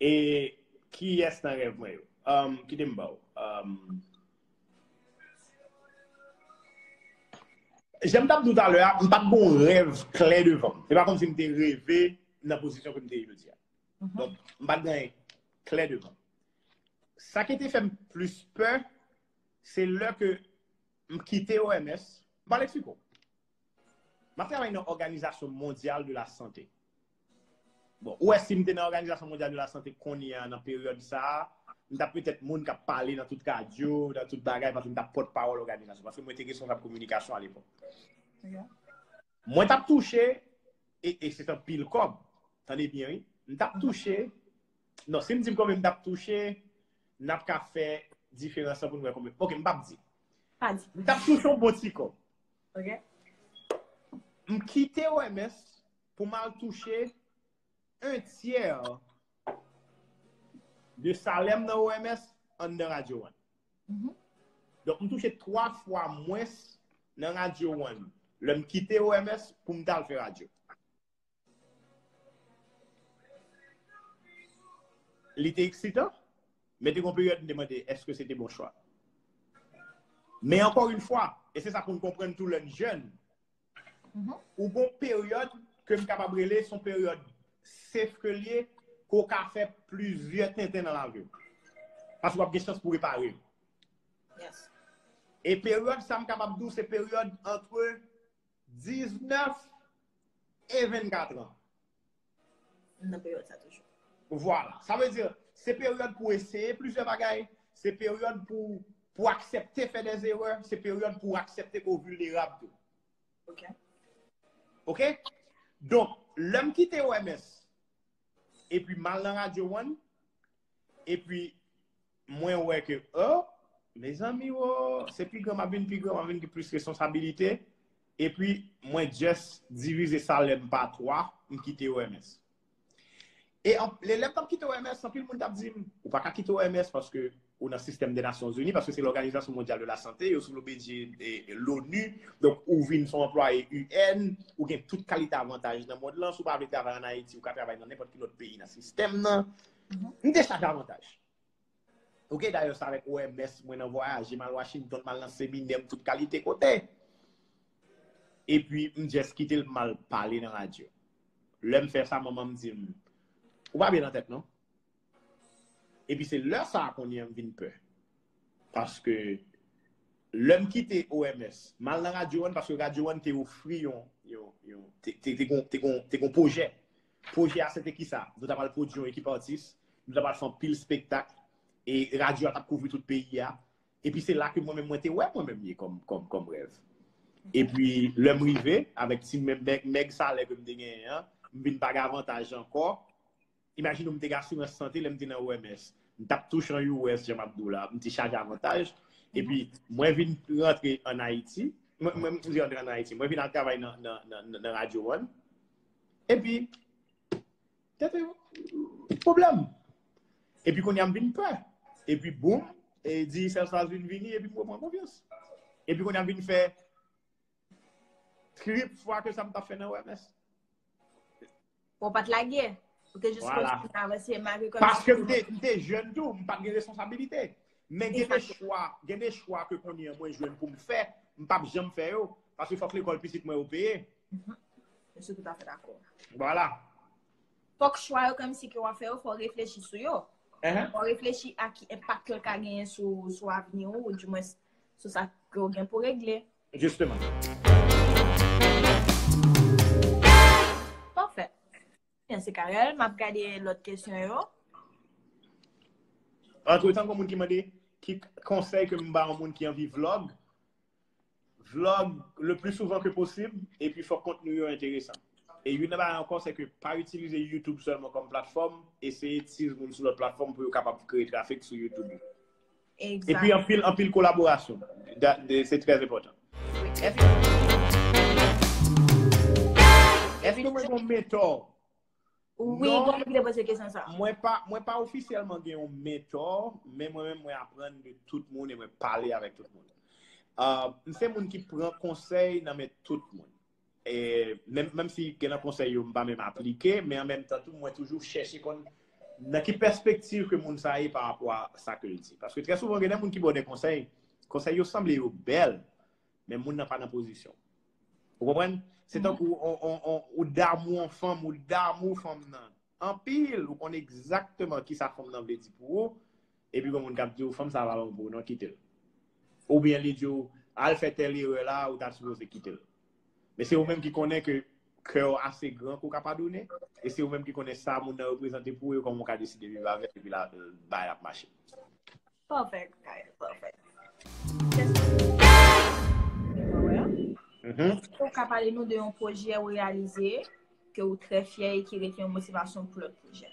E kiyès nan rèv mwen yo? Umm kite m ba w. Jan m t ap di w talè a, m pa t gen yon rèv klè devan m. Se pa kòmsi m te reve nan pozisyon ke m te ye jodi a. Donk, m pa t gen anyen klè devan m. Sa ki te fè m plis pè, se lè ke m kite OMS, m pral eksplike w. M ap travay nan Òganizasyon Mondyal de la Sante. Bon, ou wè si m te nan Òganizasyon Mondyal de la Sante kounye a nan peryòd sa a, m t ap petèt moun k ap pale nan tout radyo, nan tout bagay paske m t ap pòt pawòl òganizasyon paske mwen te responsab kominikasyon alepòk. Mwen t ap touche, e se t anpil kòb, tande byen wi, m t ap touche, non si m di m konbyen m t ap touche, n ap ka fè diferans lan pou n wè konbyen, ok m p ap di. M t ap touche yon bon ti kòb. Ok. M kite OMS pou m al touche un tiers de salè m nan OMS anndan Radio One. Donk m touche 3 fwa mwens nan Radio One lè m kite OMS pou m t al fè radyo. Li te eksitan, men te gon peryòd m te mande èske se te bon chwa. Men ankò yn fwa, e se sa pou n konprann tou lè n jèn, ou gon peryòd ke m kapab rele son peryòd sef ke l ye, ke w ka fè plizyè tenten nan lavi w. Paske w ap gen chans pou repare l. E peryòd sa m kapab di w se peryòd antre. 19 e 24 an. M nan peryòd sa toujou. Vwala. Sa vle di, se peryòd pou eseye plizyè bagay, se peryòd pou aksepte fè dè zerè, se peryòd pou aksepte ke w vilnerab tou. Ok. Ok? Donk, lè m kite OMS, epi m al nan Radio One, epi. Mwen wè ke oh Mezanmi wo se pi gran map vin pi gran map vin gen plis responsabilite epi mwen just divize salèm pa 3 m kite OMS e anpl lèm tap kite OMS anpil moun tap dim ou paka kite OMS paske ou nan sistèm de nasyon zini paske se lòganizasyon mondyal de la sante yo sou obedye loni donk ou vin son anplwaye UN ou gen tout kalite avantaj nan mond lan si w pa vle travay an Ayiti ou ka travay nan nenpòt ki lòt peyi nan sistèm nan m te chak avantaj. Ok dayè sa avèk OMS mwen nan vwayaje mal Washington mal nan seminè m tout kalite kote epi m just kite l mal pale nan radyo lè m fè sa manman m di m ou pa byen nan tèt non epi se lè sa kounye a m vin pè paske lè m kite OMS mal nan radyo 1 paske radyo 1 te ofri yon te gon pwojè Pwojè a se te kisa? Nou ta pral pwodui yon ekip atis, nou ta pral fè anpil spektak, e radyo a t ap kouvri tout peyi a. Epi se la ke mwen menm mwen te wè mwen menm ye kòm rèv. Epi lè m rive, avèk ti mèg salè ke m te genyen an, m vin pa gen avantaj ankò. Imajine ou m te gen asirans sante lè m te nan OMS. M t ap touche an US, jan m ap di w la. M te chaje avantaj. Epi mwen vin rantre ann Ayiti. Mwen vin al travay nan Radyo One. Epi, tèt e pwoblèm. Epi kounye a m vin pè. Epi boum, e Digicel sa vin vini epi m repran konfyans. Epi kounye a m vin fè trip fwa ke sa m t ap fè nan OMS. Bon, w pa t lage. Ou te jis kontinye avanse malgre kòm si. Paske m te, m te jèn tou, m pa t gen responsabilite. Men gen de chwa, gen de chwa ke kounye a mwen jwenn pou m fè, m p ap janm fè yo. Paske fòk lekòl pitit mwen yo peye. Mwen sou tout afe dakò. Vwala. Fòk chwa yo kèm si ke wap fè yo fò reflechi sou yo. Fò reflechi a ki enpak ke l ka genyen sou avni ou ou di mwen sou sa ke ou gen pou regle. Jisteman. Pafè. Mwen se Carel. Map gade lòt kesyon yo. Antretan gen moun ki mande ki konsèy ke m ba yon moun ki anvi vlog. Vlog le pli souvan ke posib, epi fòk kontni yo enteresan. E youn nan bagay ankò se ke pa itilize YouTube sèlman kòm platfòm, eseye tiz moun sou lòt platfòm pou yo kapab kreye trafik sou YouTube ou. Epi anpil, anpil kolaborasyon. Se trè enpòtan. Èske nou mwen gen yon mentor? Wi, bon moun ki te poze kesyon sa. Mwen pa ofisyèlman gen yon mentò, men mwen mwen aprann de tout moun e mwen pale avèk tout moun. Mwen se moun ki pran konsèy nan men tout moun. E menm si gen nan konsèy yo mwen pa menm aplike, men an menm tan tou mwen toujou chèche konn nan ki pèspektiv ke moun sa ye pa rapò a sa ke l di. Paske trè souvan gen de moun ki ba w de konsèy, konsèy yo sanble yo bèl, men moun nan pa nan pozisyon. Ou konprann? Se tankou ou damou yon fanm, ou damou fanm nan. Anpil, ou konn egzakteman ki sa fanm nan vle di pou ou, epi yon moun k ap di ou fanm sa a pa bon pou ou non, kite l. Oubyen li di ou, al fè tèl erè la, ou ta sipoze kite l. Men se ou menm ki konnen ke kè ou ase gran ke ou ka padone, e se ou menm ki konnen sa moun nan reprezante pou ou e kòman ou ka deside viv avè l epi bay l ap mache. Perfect, guys. Perfect. Mm-hmm. Ou ka pale nou de yon pwojè ou realize ke ou trè fyè e ki rete yon motivasyon pou lòt pwojè.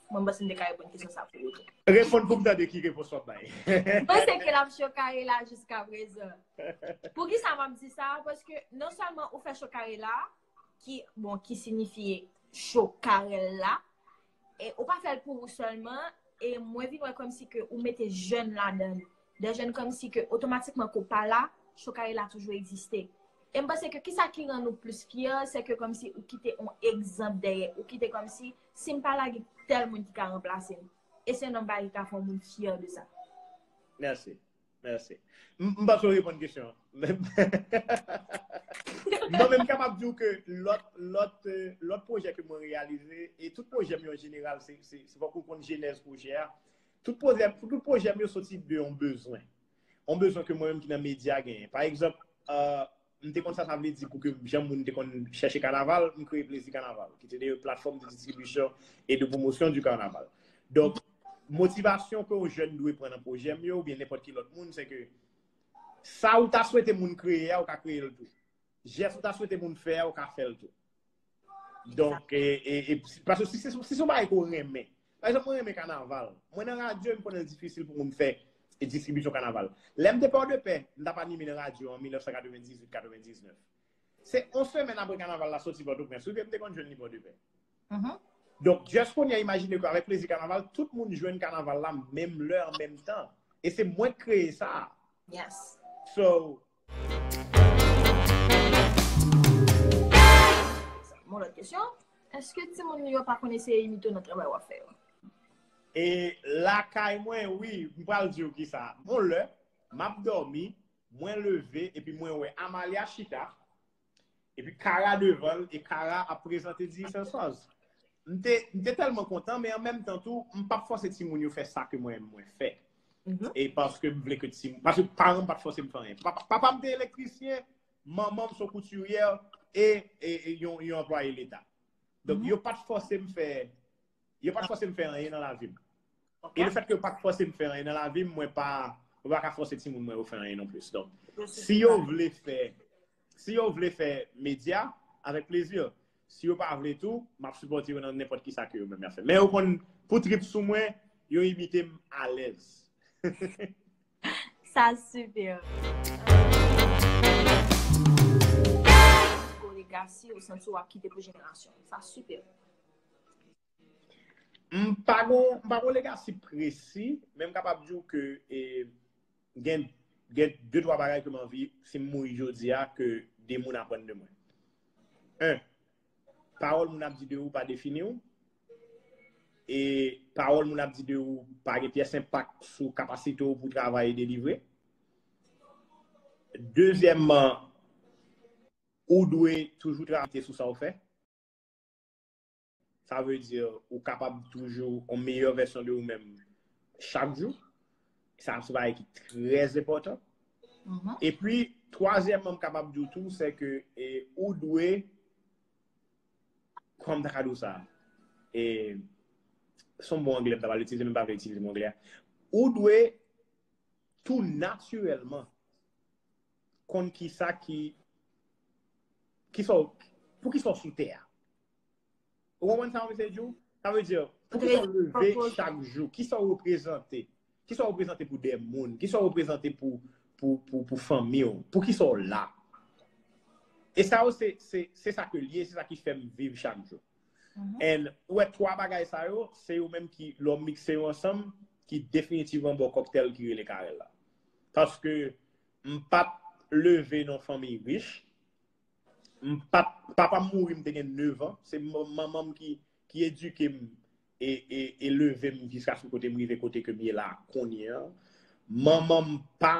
Mwen bas mwen de ka repon kisyon sa pou ou. Repon pou mta de ki repon sot bay. Mwen se ke la msye kare la jiska prezè. Pou ki sa mwen mdi sa? Pwèske non salman ou fè chokare la, ki bon ki sinifye cho karel la e ou pa fèl pou ou sèlman e mwen vin wè kòm si ke ou mete jèn la dan de jèn kòm si ke otomatikman ke ou pa la cho karel la toujou egziste e m panse ke ki sa ki rann ou plis fyè se ke kòm si ou kite on egzanp dèyè ou kite kòm si si m pa la gen tèl moun ki ka ranplase m e se nòmal ka fè moun fyè de sa mèsi Merci. M pa sou reponn kesyon. Non men m kapab di ou ke lòt projè ke mwen realize, e tout projè m yo an jeneral, se fòk ou konn jenèz projè a, tout projè m yo soti de yon bezwen. Yon bezwen ke mwen menm ki nan medya genyen. Pa egzanp, M te konn sa sa vle di pou ke jan moun te konn chèche kanaval, m kreye Plezi Kanaval, ki te de yon platfòm de distribisyon e de pwomosyon di kanaval. Donk, motivasyon ke yon jèn dwe pran nan pwojè m yo oubyen nenpòt ki lòt moun, se ke sa ou ta swete moun kreye a, ou ka kreye l tou. Jès ou ta swete moun fè a, ou ka fè l tou. Donk, e, paske si se yon bagay ke ou renmen, pa egzanp mwen renmen kanaval, mwen nan radyo e m konnen l difisil pou moun fè distribisyon kanaval. Lè m te Pòdepè, m t ap anime nan radyo an 1998, 99. Se yon semèn apre kanaval la soti Pòtoprens wi ke m te konn jwenn li Pòdepè. Donk, just kounye a imajine ke avèk plezi kanaval, tout moun jwenn kanaval la menm lè an menm tan. E se mwen k kreye sa a. So, Mon lòt kesyon, eske ti moun yo pa konn eseye imite w nan travay w ap fè yo? E lakay mwen wi, m pral di w kisa. Yon lè, m ap dòmi, mwen leve epi mwen wè Amalia chita, Epi Kara devan l e Kara ap prezante Di Sèl Sòz. M te tèlman kontan men an menm tan tou m pap fòse timoun yo fè sa ke mwen menm mwen fè. E paske m vle ke timoun, paske paran m pat fòse m fè anyen. Papa m te elektrisyen, manman m son koutiryè e yon anplwaye leta. Donk yo pat fòse m fè, yo pat fòse m fè anyen nan lavi m. E le fèt ke yo pa fòse m fè anyen nan lavi m, mwen pa ka fòse timoun mwen yo fè anyen non plis. Donk, si yo vle fè, si yo vle fè medya, avèk plezi. Si yo pa vle tou, m ap sipòte yo nan nenpòt kisa ke yo menm y ap fè. Men yo konn pou trip sou mwen, yo imite m alèz. Sa sipè. Yon legasi ou santi w ap kite pou jenerasyon. Sa sipè. M pa gon legasi presi, men m kapab di w ke gen 2-3 bagay ke m anvi si m mouri jodi a ke 2 moun aprann de mwen. 1, Pawòl moun ap di de ou pa defini w, e pawòl moun ap di de ou pa gen pyès enpak sou kapasite w pou travay e delivre. Dezyèmman, ou dwe toujou travay sou sa w fè. Sa vle di ou kapab toujou yon meyè vèsyon de ou menm chak jou. Sa se bagay ki trè enpòtan. E pi, twazyèmman m kapab di ou tou se ke ou dwe, kòman m ta ka di ou sa? Se yon mo angle m ta pral itilize men m pa vle itilize mo angle a. Ou dwe tou natirèlman konn kisa ki, kisa w, pou kisa w sou tè a. Ou konprann sa mwen se di ou? Sa vle di, pou ki sa ou leve chak jou? Ki sa ou reprezante? Ki sa ou reprezante pou de moun? Ki sa ou reprezante pou fanmi ou? Pou ki sa ou la? E sa ou se, se sa ke liye, se sa ki fèm viv chak jou. En, ou e 3 bagay sa yo, se yo menm ki, lè ou mikse yo ansanm, ki definitivman ba ou kòktèl ki rele Carel la. Paske, m pat leve nan fanmi rich. Papa m mouri m te gen 9 an. Se manman m ki edike m e leve m jiska sou kote m rive kote ke m ye la kounye an. Manman m pa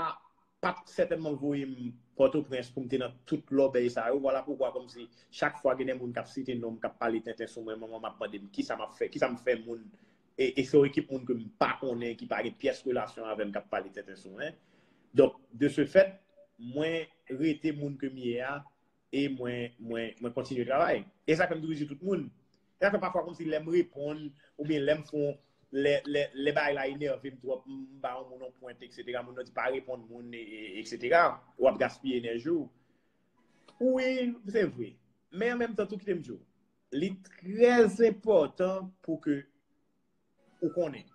pat sètènman voye m Pòtoprens pou m te nan tout lòbèy sa yo. Vwala poukwa kòmsi chak fwa gen de moun k ap site non m, k ap pale tenten sou mwen, manman m ap mande m kisa m ap fè, kisa m fè moun. e se yon ekip moun ke m pa konnen, ki pa gen pyès relasyon avè m k ap pale tenten sou mwen. Donk, de se fèt, mwen rete moun ke m ye a e mwen kontinye travay. E sa fè m toujou di tout moun, e sa fè pafwa kòmsi lè m reponn oubyen lè m fè yon, lè bagay la enève m twòp, m ba yon moun yon pwent eksetera, moun nan di pa reponn moun eksetera, w ap gaspiye enèji w. Wi, se vre. Men an menm tan tou kite m di w, Li trè enpòtan pou ke ou konnen.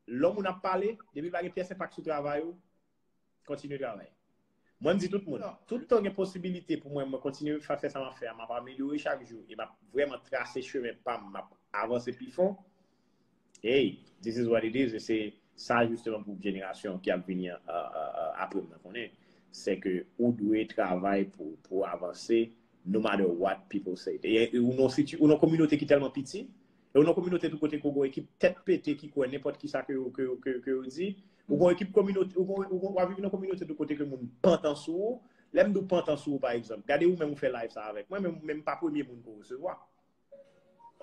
Lò moun ap pale, depi pa gen pyès enpak sou travay ou, kontinye travay. Mwen m di tout moun, tout tan gen posibilite pou mwen mwen kontinye fè sa m ap fè a, m ap amelyore chak jou e m ap vrèman trase chemen pa m, m ap avanse pi fon. Hey, this is what it is, e se sa jisteman pou jenerasyon ki ap vini apre m nan konnen, se ke ou dwe travay pou avanse no matter what people say. Ou nan kominote ki tèlman piti, e ou nan kominote tou kote ke ou gen yon ekip tèt pete ki kwè nenpòt kisa ke yo di, ou gen yon ekip kominote, ou ap viv nan kominote tou kote ke moun pantan sou ou, lè m di w pantan sou ou pa egzanp, gade ou menm ou fè live sa avèk mwen, men m pa premye moun ke w resevwa.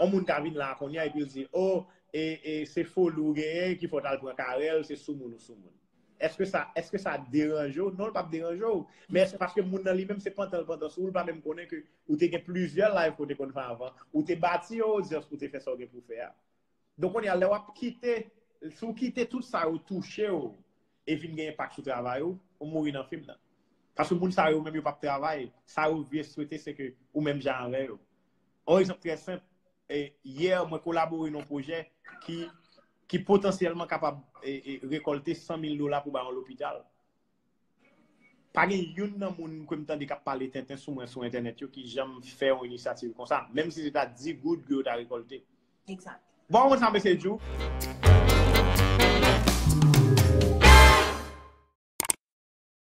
On moun ka vin la kounye a epi l di, o, e se foli ou genyen ki fè w t al pran Carel, se soumoun ou soumoun. Èske sa, èske sa deranje w? Non, l pap deranje w. Men èske paske moun nan li menm se pantan l pantan sou ou, l pa menm konnen ke ou te gen plizyè live ke w te konn fè avan, ou te bati yon odyans pou w te fè sa w gen pou w fè a. Donk kounye a lè w ap kite, si w kite tout sa yo touche w e vin gen enpak sou travay ou, ou mouri nan fim nan. Paske moun sa yo menm yo pap travay, sa yo vie swete se ke ou menm jan avè yo. On egzanp trè senp, yè mwen kolabore nan yon pwojè ki potansyèlman kapab rekòlte 100 mil dola pou bay yon lopital. Pa gen youn nan moun ke m tande k ap pale tenten sou mwen sou entènèt yo ki janm fè yon inisyativ konsa, menm si se ta 10 goud ke yo ta rekòlte. Bon, ou konn sa mesye Djou?